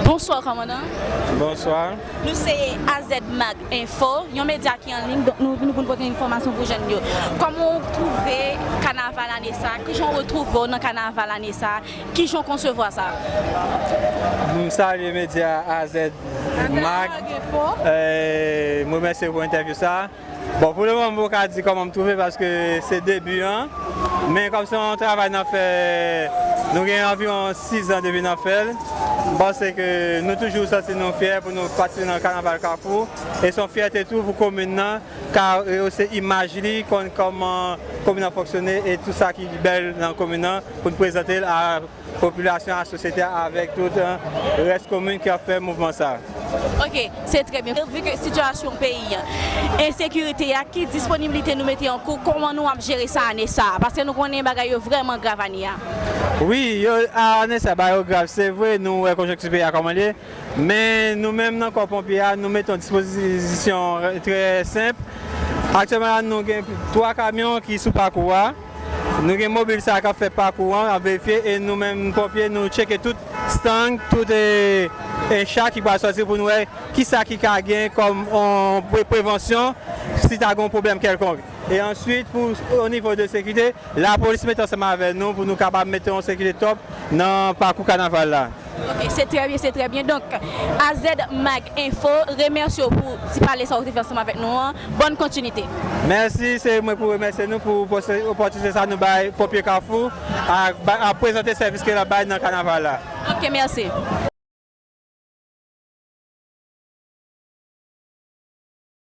Bonswa kòmandan. Bonswa. Nou se AZmag info, yon medya ki an liy, donk nou vini pou nou pote enfòmasyon pou jèn yo. Kòman ou twouve kanaval ane sa? Kijan ou retwouve ou nan kanaval ane sa? Kijan ou konsevwa sa? M salye medya AZmag info. M remèsye pou entèvyou sa. Bon pou le moman mwen paka di kòman m twouve paske se debi an men kòm se yon travay nan fè nou gen anviwon 6 zan depi nan fè l m panse ke nou toujou santi nou fyè pou nou patisipe nan kanaval kafou e son fyète tou pou komin nan ka reyose imaj li konn kòman komin nan fonksyone e tout sa ki bèl nan komin nan pou n prezante l a Popilasyon a, sosyete a avèk tout rès komin ki ap fè mouvman sa a. Ok, se trè byen. Vu ke sitiyasyon peyi an, ensekirite a, ki disponibilite nou mete an kou, kòman nou ap jere sa ane sa a? Paske nou konnen bagay yo vrèman grav ane a. Wi, ane sa a bagay yo grav. Se vre nou wè konjonkti peyi a kòman l ye, men nou menm nan kò ponpye a nou mete yon dispozisyon trè senp. Aktyèlman la nou gen 3 kamyon ki sou pakou a. Nou gen mobil sa k ap fè pakou an, ap verifye e nou menm ponpye nou tcheke tout stang, tout encha ki pral sòti pou nou wè ki sa ki ka gen kòm prevansyon si ta gen yon pwoblèm kèlkonk. E answit pou o nivo de sekirite, lapolis mete ansanm avè nou pou nou kapab mete yon sekirite top nan pakou kanaval la. Ok se trè byen se trè byen donk azmag enfo remèsye w pou ti pale sa ou te fè ansanm avèk nou an bòn kontinite. Mèsi se mwen pou remèsye nou pou opòtinite sa nou bay Pompier Kafou a prezante sèvis ke lap bay nan kanaval la. Ok mèsi.